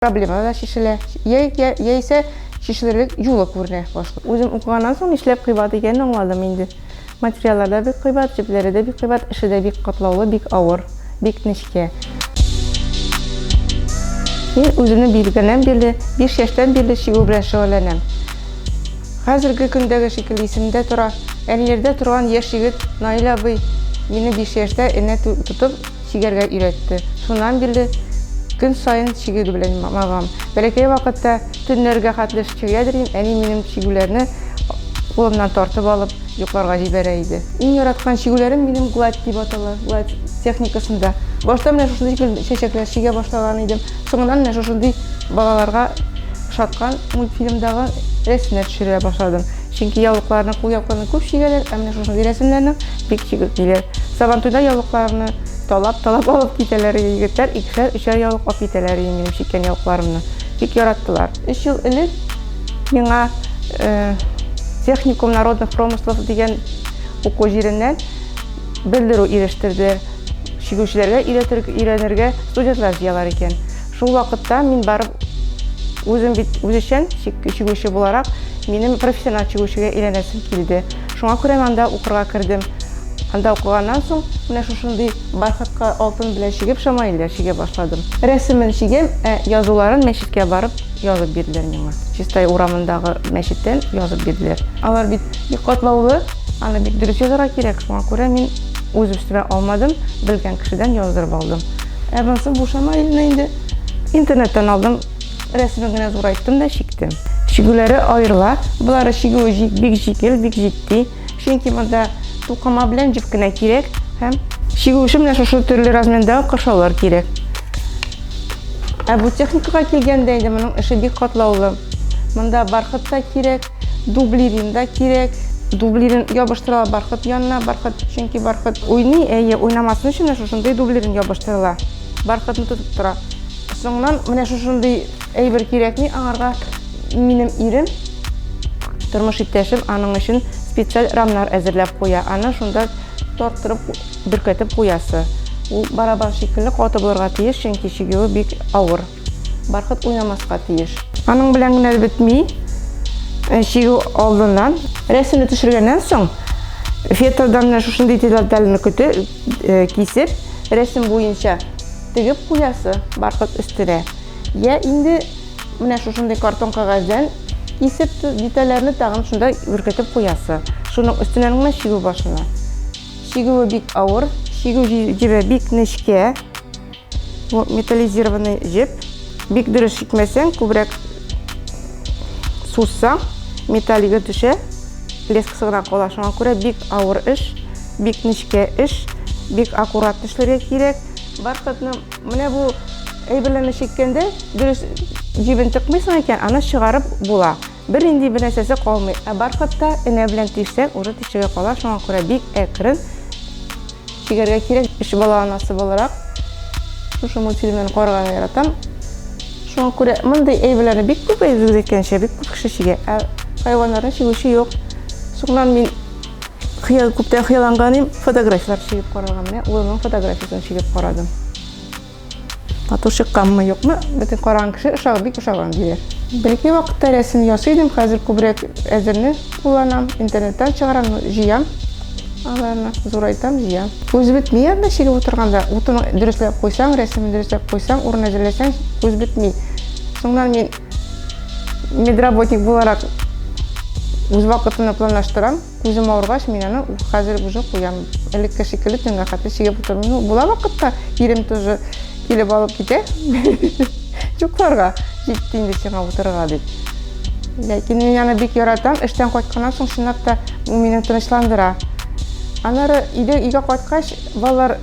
Проблема да чишелә, яи яисә чишелерлек юлы күренә башлый. Үзем укыганнан соң нишләп кыйбат икәнен аңладым инде. Материаллар да бик кыйбат, җепләре дә бик кыйбат, эше дә бик катлаулы, бик авыр, бик нечкә. Мин үземне биргәннән бирле, биш яшьтән бирле чигү белән шөгыльләнәм. Хәзерге көндәге шикелле исемдә тора, Әниләрдә торган яшь егет Наил абый мине биш яшьтә энә тотып, чигәргә өйрәтте. Шуннан бирле көн саен чигү белән мавыгам. Бәләкәй вакытта төннәргә хәтле чигә йөрим, әни минем чигүләрне кулымнан тартып алып, йокларга җибәрә иде. Иң яраткан чигүләрем минем гладь дип атала, гладь техникасында. Башта менә шушындый гел чәчәкләр чигә башлаган идем. Соңыннан менә шушындый балаларга ошаткан мультфильмдагы рәсемнәр төшерә башладым. Чөнки яулыкларны, кулъяулыкларны күп чигәләр, ә менә шушындый рәсемнәрнең Бик чигеп җиләр. Сабантуйда яулыкларны талап-талап алып китәләр иде егетләр, икешәр, өчәр яулык алып китәләр иде минем чиккән яулыкларымны. Бик яраттылар. Өч ел элек миңа э, техникум народных промыслов дигән уку җиреннән белдерү ирештерде. Чигүчеләргә өйрәнергә студентлар җыялар икән. Шул вакытта мин барып үзем бит үзешчән чигүче буларак минем профессиональ чигүчегә әйләнәсем килде. Шуңа күрә мин анда укырга кердем. Анда укыганнан соң, менә шушындый бархатка алтын белән чигеп шамаилләр чигә башладым. Рәсемен чигәм, ә язуларын мәчеткә барып язып бирделәр миңа. Чистай урамындагы мәчеттән язып бирделәр. Алар бит бик катлаулы, аны бик дөрес язарга кирәк, шуңа күрә мин үз өстемә алмадым, белгән кешедән яздырып алдым. Ә монысы бу шамаилне инде интернеттан алдым. Рәсемен генә зурайттым да чиктем. Чигүләре аерыла. Болары чигүе җик, бик җикел, бик җитди. Чөнки монда тукыма белән җеп кенә кирәк һәм чигү өчен менә шушы төрле размерда кашалар кирәк. Ә бу техникага килгәндә инде моның эше бик катлаулы. Монда бархыт та кирәк, дублирин да кирәк. Дублирин ябыштырыла бархыт янына, бархыт чөнки бархыт уйный, әйе, уйнамасын өчен шушындый дублирин ябыштырыла. Бархытны тотып тора. Соңнан менә шушындый әйбер кирәкми аңарга минем ирем тормыш иптәшем аның өчен специаль рамнар әзерләп куя. Аны шунда тарттырып бөркәтеп куясы. Ул барабан шикелле каты булырга тиеш, чөнки чигүе бик авыр. Бархыт уйнамаска тиеш. Аның белән генә бетми. Э, чигү алдыннан рәсемне төшергәннән соң фетодан шушындый детальне көтеп э, кисеп рәсем буенча тегеп куясы баркыт өстенә, йә инде менә шушындый картон кәгазьдән кисеп детальләрне тагын шунда үркетеп куясы. Шуның өстеннән генә чигү башына. Чигүе бик авыр, чигү җебе бик нечкә. Бу металлизированный җеп. Бик дөрес чикмәсәң, күбрәк сузсаң, металлига төшә. Лескасы гына кала, шуңа күрә бик авыр эш, бик нечкә эш, бик аккуратно эшләргә кирәк. Бархатны менә бу әйберләрне чиккәндә дөрес җибен тыкмыйсың икән, аны чыгарып була. Бер нинди бер нәрсәсе калмый. Ә бархатта энә белән тишсәң, уже тишеге кала, шуңа күрә бик әкрен чигәргә кирәк. Өч бала анасы буларак, шушы мультфильмнарны карарга яратам. Шуңа күрә мондый әйберләрне бик күп әйбер әйткәнчә, бик күп кеше чигә. Ә хайваннарны чигүче юк. Соңыннан мин Хыял, күптән хыялланганым фотографияләр чигеп карарга. Менә улымның фотографиясен чигеп карадым. Матур чыкканмы, юкмы? Бөтен караган кеше ошаг, бик ошаган диләр. Бәлки вакытта рәсем ясый идем, хәзер күбрәк әзерне кулланам, интернеттан чыгарам, җыям аларны, зурайтам, җыям. Күз бетми анда чигеп утырганда, утын дөресляп куйсаң, рәсемен дөресляп куйсаң, урын әзерләсәң, күз бетми. Соңнан мин медработник буларак үз вакытымны планлаштырам күзем авыргач мин аны хәзер уже куям элекке шикелле төнгә хәтле чигеп утырмыйм ну була вакытта ирем тоже килеп алып китә йокларга җитте инде сиңа утырырга дип ләкин мин аны бик яратам эштән кайтканнан соң чынлап та ул мине тынычландыра аннары өйгә кайткач балалар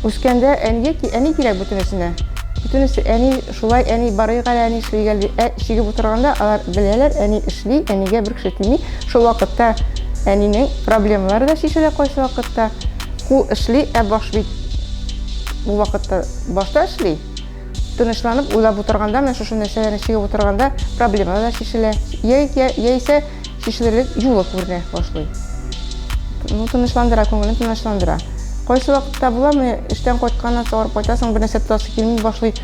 Үскәндә әнигә ки, әни кирәк бөтенесенә. Бөтенесе әни, шулай әни, барыйк әле әни эшли гәл дип, ә чигеп утырганда алар беләләр, әни эшли, әнигә бер кеше тими. Шул вакытта әнинең проблемалары да чишелә кайсы вакытта. Кул эшли, ә баш бит бу вакытта башта эшли. Тынычланып уйлап утырганда, менә шушы нәрсәләрне чигеп утырганда проблемалар да чишелә. Яисә чишелерлек юлы күренә башлый. Ну, тынычландыра, күңелен тынычландыра. Кайсы вакытта була, менә эштән кайтканнан соң арып кайтасың, бер нәрсә тотасы килми башлый.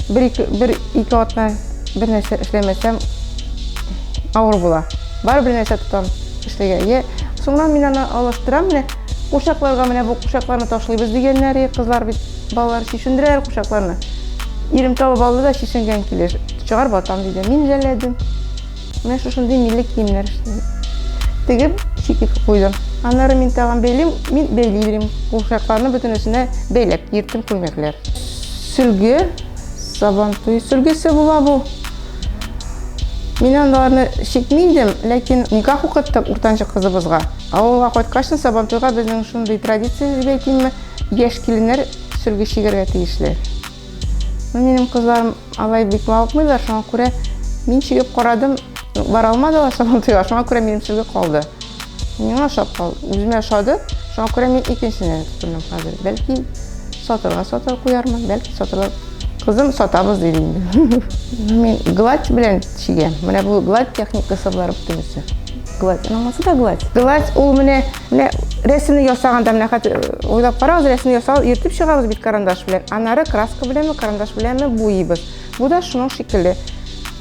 Бер ике, бер ике атна бер нәрсә эшләмәсәм авыр була. Бар бер нәрсә тотам эшлегә. Е, соңнан мин аны алыштырам, менә кушакларга менә бу кушакларны ташлыйбыз дигәннәр, кызлар бит балалар чишендерәләр кушакларны. Ирем табып алды да чишенгән килеш чыгар батам диде. Мин жәлләдем. Менә шушындый милли киемнәр эшлим. Тегеп, читек куйдым. Аннары мин тагын бәйлим, мин бәйли бирим. Курчакларны бөтенесенә бәйләп киертем күлмәкләр. Сөлге, сабантуй сөлгесе була бу. Мин аларны чикмим идем, ләкин никах укыттык уртанчы кызыбызга. Авылга кайткач, сабантуйга безнең шундый традиция дип әйтимме, яшь киленнәр сөлге чигәргә тиешле. Минем кызларым алай бик мавыкмыйлар, шуңа күрә мин чигеп карадым, бара алмадылар сабантуйга, шуңа күрә минем сүзгә калды. Миңа ошап калды, үземә ошады, шуңа күрә мин икенчесенә тотындым хәзер. Бәлки сатырга сатыр куярмын, бәлки сатырга кызым сатабыз диде инде. Мин гладь белән чигәм. Менә бу гладь техникасы буларак төрлесе. Гладь, анамасы да гладь. Гладь ул менә Менә рәсемне ясаганда, менә хәзер уйлап карагыз, рәсемне ясау йөртеп чыгабыз бит карандаш белән. Аннары краска беләнме, карандаш беләнме буйыйбыз. Бу да шуның шикелле.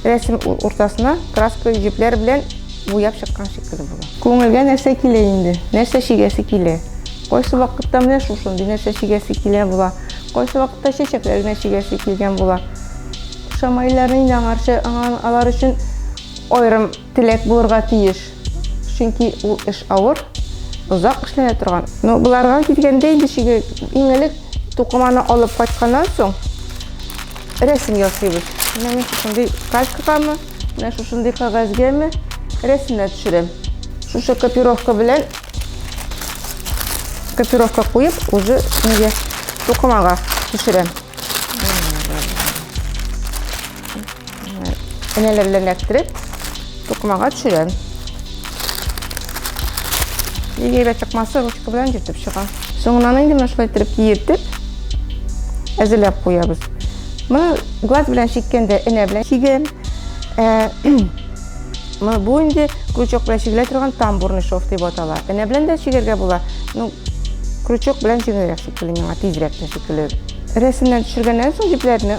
Рәсем уртасына краска җепләр белән буяп чыккан шикелле була. Күңелгә нәрсә килә инде? Нәрсә чигәсе килә? Кайсы вакытта менә шушындый нәрсә чигәсе килә була. Кайсы вакытта чәчәкләр генә чигәсе килгән була. Шамайларны инде аңарчы, алар өчен аерым Теләк булырга тиеш. Чөнки ул эш авыр, озак эшләнә торган. Ну, буларга килгәндә инде чиге иң элек тукыманы алып кайтканнан соң рәсем ясыйбыз. Менә мин шушындый калькагамы, менә шушындый кагазьгәме рәсемнәр төшерәм. Шушы копировка белән копировка куеп, уже нигә тукымага төшерәм. Энәләр белән эләктереп, тукмага төшерәм. Егербә чыкмасы ручка белән җитеп чыга. Соңынан инде менә шулай итеп киертеп, әзерләп куябыз. Моны глаз белән чиккәндә энә белән чигәм. Ә, бу инде крючок белән чигелә торган тамбурный шов дип атала. Энә белән дә чигергә була. Ну, крючок белән җиңелрәк шикелле миңа, тизрәк тә шикелле. Рәсемнән төшергәннән соң җепләрне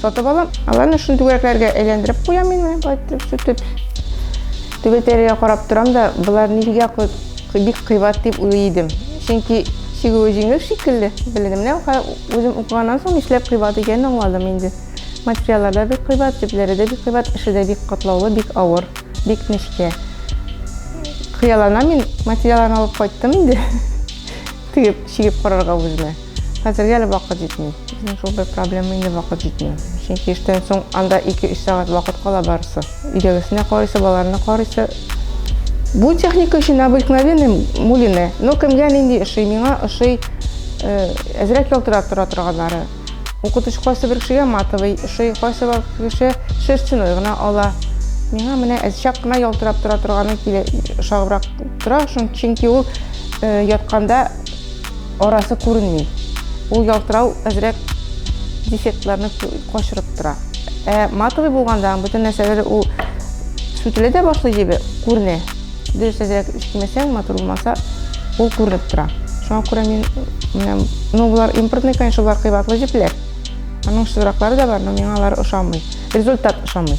Сатып алам. Аларны шул түгәрәкләргә әйләндереп куям мин менә болай итеп сүтеп. Түгәрәкләргә карап торам да, болар нигә бик кыйбат дип уйлый идем. Чөнки чигүе җиңел шикелле. Белдем менә үзем укыганнан соң нишләп кыйбат икәнен аңладым инде. Материаллар да бик кыйбат, төпләре дә бик кыйбат, эше дә бик катлаулы, бик авыр, бик нечкә. Хыяллана мин материалларны алып кайттым инде. Тегеп, чигеп карарга үземә. Хәзергә әле вакыт җитми. Безнең шул бер проблема инде вакыт җитми. Чөнки эштән соң анда 2-3 сәгать вакыт кала барысы. Өйдәгесенә карыйсы, балаларына карыйсы. Бу техника өчен обыкновенный мулины. Ну, кемгә нинди ошый? Миңа ошый э, әзрәк ялтырап тора торганнары. Укытучы кайсы бер кешегә матовый ошый, кайсы бер кеше шерстяной гына ала. Миңа менә әзчәк кына ялтырап тора торганы килә, ошагыбрак тора, чөнки ул э, ятканда Арасы күренми. Ул ялтырау әзрәк дефектларны качырып тора. Ә матовый булганда бөтен нәрсәләр ул сүтелә дә башлый дип күренә. Дөрес әзрәк эшләмәсәң, матур булмаса, ул күренеп тора. Шуңа күрә мин менә ну булар импортный, конечно, булар кыйбатлы җепләр. Аның шызраклары да бар, но миңа алар ошамый. Результат ошамый.